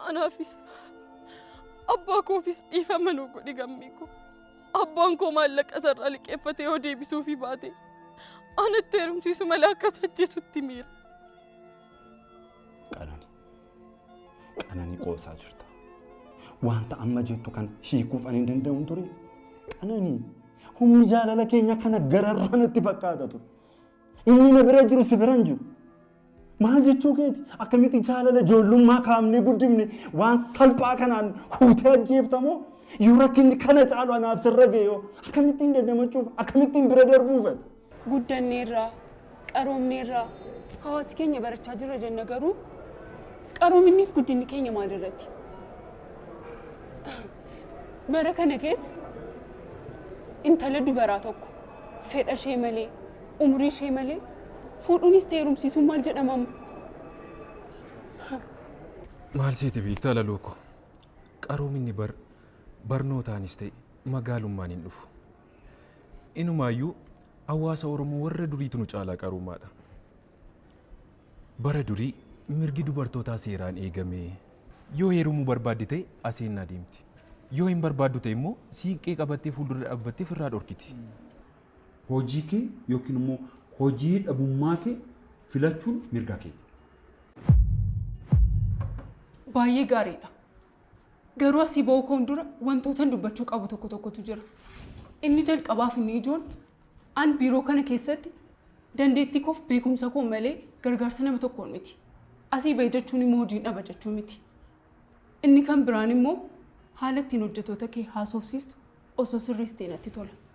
Anaafis abbaa koofis dhiifama nuu godhi gammee koo. Abbaan koo maallaqa isarraa liqeeffatee yoo deebisuufi baate anatti heerumsiisu malee akka isa ajjeesutti miira. Qanani. Qanani qoosaa jirta. Wanta amma jettu kana hiikuuf ani hin danda'u hin ture. Qanani. Humni jaalala keenya kana gararraa natti fakkaata ture. Inni na bira jiru si bira hin jiru. Maal jechuu keeti? Akkamitti jaalala ijoollummaa kaafnee guddifne waan salphaa kanaan huutee ajjeeftamoo? Yoo rakkinni kana caalu anaaf sirra ga'e yoo akkamittiin dandamachuuf akkamittiin bira darbuuf ati? Guddanneerra, qaroomneerra, hawaasi keenya barachaa jirra jenna garuu qaroominniif guddinni keenya maalirratti? Bara kana keessa intala dubaraa tokko fedha ishee malee Umurii ishee malee fuudhuunis ta'e heerumsiisuun maal jedhama amma? Maal seete beektaa laloo koo? Qaroominni bar barnootaanis ta'e magaalummaan hin dhufu. Inumaayyuu hawaasa Oromoo warra duriitu nu caalaa qaroomaadha. Bara durii mirgi dubartootaa seeraan eegamee yoo heerumuu barbaadde ta'e aseennaa deemti. Yoo hin barbaaddu ta'e immoo siiqqee qabattee fuuldura dhaabbattee firraa dhorkiti. Hojii kee yookiin immoo hojii dhabummaa kee filachuun mirga keeti. Baay'ee gaariidha. Garuu asii ba'uu koon dura wantootan dubbachuu qabu tokko tokkotu jira. Inni jalqabaaf inni ijoon an biiroo kana keessatti dandeettii koof beekumsa koo malee gargaarsa nama tokkoon miti. Asii ba'e jechuun immoo hojiin dhaba jechuu miti. Inni kan biraan immoo haala ittiin hojjetoota kee haasofsiistu osoo sirreessitee natti tola.